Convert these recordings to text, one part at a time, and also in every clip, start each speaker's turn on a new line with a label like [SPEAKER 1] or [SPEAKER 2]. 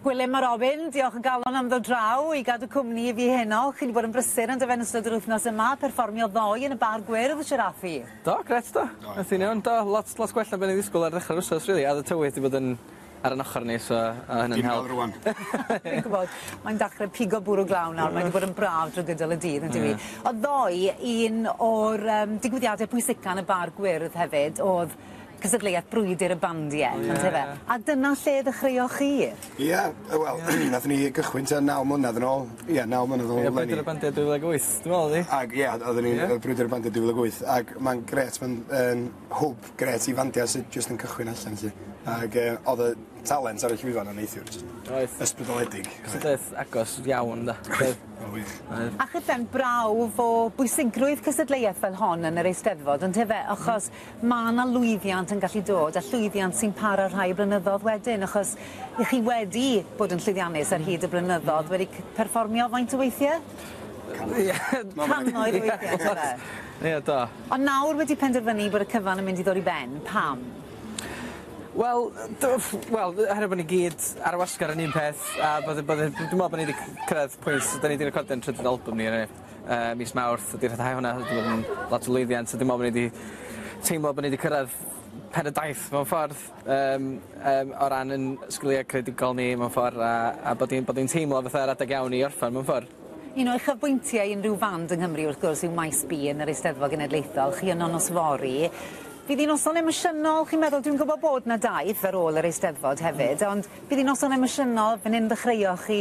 [SPEAKER 1] Gwilym a Robin, diolch o galon am ddod draw i gadw cwmni i fi heno. Chi 'di bod yn brysur on'd yfe yn ystod yr wythnos yma, perfformio ddoe yn y bar gwyrdd, siŵr â chi? Do, grêt do. Aeth hi'n iawn do, lot lot gwell na be' o'n i'n ddisgwl ar ddechre'r wsos rili a o'dd y tywydd 'di bod yn ar 'yn ochor ni so o' hynna'n help. Ti'n rŵan. Fi'n gwbod. Mae'n dachre pigo bwrw glaw nawr mae 'di bod yn braf drw gydol y dydd on'd yw 'i? O'dd ddoe un o'r yym digwyddiade pwysica yn y bar gwyrdd hefyd o'dd Cystadleuaeth brwydr y bandiau on'd yfe? Ie. A dyna lle ddechreuoch chi? Ie yy wel nathon ni gychwyn tua naw mlynadd yn ôl ie naw mlynadd yn ôl eleni. Ie brwydr y bandiau dwy fil ag wyth dwi me'wl o'dd 'i? Ag ie o'dd o'n i yy brwydr y bandiau dwy fil ag wyth ag ma'n grêt ma'n yn hwb grêt i fandiau sy jyst yn cychwyn allan 'lly ag yy o'dd y talent ar y llwyfan yn neithiwr jyst... Oedd. ...ysbrydoledig. Cystadleuaeth agos iawn 'de? Oedd. Oedd wych. Oedd. A chydan brawf o bwysigrwydd cystadleuaeth fel hon yn yr Eisteddfod on'd yfe achos mae 'na lwyddiant yn gallu dod, a llwyddiant sy'n para rhai blynyddoedd wedyn, achos y'ch chi wedi bod yn llwyddiannus ar hyd y blynyddoedd, wedi c- perfformio faint o weithiau? Cannoedd. Ie. Cannoedd o weithiau, yndyfe? Ie, do. Ond nawr wedi penderfynu bod y cyfan yn mynd i ddod i ben, pam? Wel, do, wel, oherwydd bod ni gyd ar y wasgar yn un peth, a bod, bod, dwi'n meddwl bod ni wedi cyrraedd pwynt, da ni wedi recordio'n trydydd album ni, eniwe. Yy mis Mawrth ydi rhyddhau hwnna oherwydd bod yn lot o lwyddiant so dwi'n me'wl bo' ni 'di teimlo bo' ni 'di cyrradd pen y daith mewn ffordd yym yym o ran 'yn sgilie creadigol ni mewn ffor a a bod ni'n bod ni'n teimlo fatha yr adeg iawn i orffen mewn ffor. Un o uchafbwyntiau unrhyw fand yng Nghymru wrth gwrs yw Maes B yn yr Eisteddfod Genedlaethol, chi yno nos fory. Bydd 'i'n noson emosiynol chi'n meddwl? Dwi'n gwbo bod 'na daith ar ôl yr Eisteddfod hefyd ond bydd 'i'n noson emosiynol fan 'yn ddechreuoch chi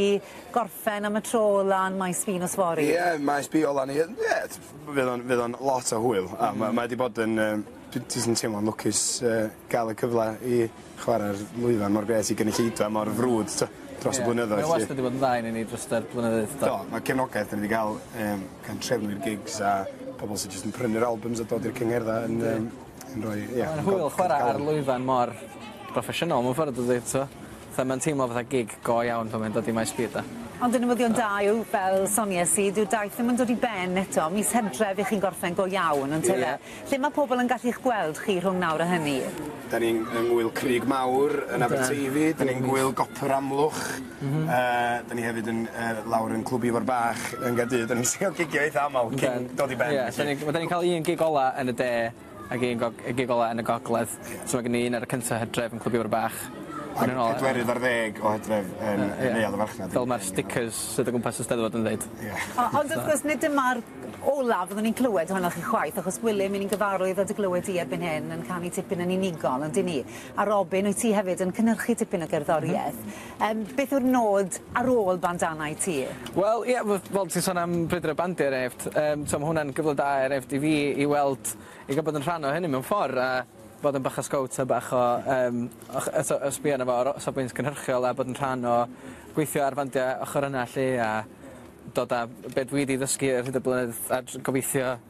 [SPEAKER 1] gorffen am y tro lan Maes B nos fory? Ie Maes B ola ni yy ie t- f- fydd o'n fydd o'n lot o hwyl a ma' mae 'di bod yn yym dwi jyst yn teimlo'n lwcus yy ga'l y cyfle i chwara'r lwyfan mor grêt i gynulleidfa mor frwd t'o' dros y blynyddoedd 'lly. Ie mae wastad 'di bod yn dda i ni ni drost yr blynyddoedd do? Do ma' cefnogaeth 'dan ni 'di ga'l yym gan trefnu'r gigs a pobol sy jyst yn prynu'r albums a dod i'r cyngherddau yn yym yn rhoi ie... Ma'n hwyl chwara ar lwyfan mor broffesiynol mewn ffordd dydi t'o'? Fatha mae'n teimlo fatha gig go iawn pan mae'n dod i Maes B de. Ond y newyddion da yw, fel sonies i, dyw'r daith ddim yn dod i ben eto, mis Hydref i chi'n gorffen go iawn, yn tyfe? Ie. Lle mae pobl yn gallu'ch gweld chi rhwng nawr a hynny? Dan ni'n yng Ngŵyl Crug Mawr yn Aberteifi, dan ni'n Ngŵyl Gopr Amlwch, yy dan ni hefyd yn yy lawr yn Clwb Ifor Bach yn Gaerdydd, dan ni'n trio gigio eitha' aml cyn dod i ben felly. Ie, dan ni'n cael un gig ola' yn y de, Ag un gog- y gig ola yn y gogledd. So ma' gen ni un ar y cynta Hydref yn Clwb Ifor Bach. Ac yn ôl... Pedwerydd ar ddeg o Hydref yn yn Neuadd y Farchnad. Fel ma'r sticers sydd o gwmpas y Steddfod yn ddeud. Ie. O- ond wrth gwrs nid dyma'r olaf fyddwn ni'n clywed ohonoch chi chwaith achos Wilym 'yn ni'n gyfarwydd â dy glywed di erbyn hyn yn canu tipyn yn unigol on'd 'yn ni? A Robin wyt ti hefyd yn cynhyrchu tipyn o gerddorieth. Yym beth yw'r nod ar ôl bandanau ti? Wel ie f- fel ti'n sôn am brwydro bandiau er enghraifft yym t'mo' ma' hwnna'n gyfle da er enghraifft i fi i weld i ga'l bod yn rhan o hynny mewn ffor a bod yn bach o sgowt a bach o yym o ch- yy so yy sbio arno fo ar o- safbwynt cynhyrchiol a bod yn rhan o gweithio ar fandia ochor yna 'lly a dod â be' dwi 'di ddysgu ar hyd y blynyddoedd a js gobeithio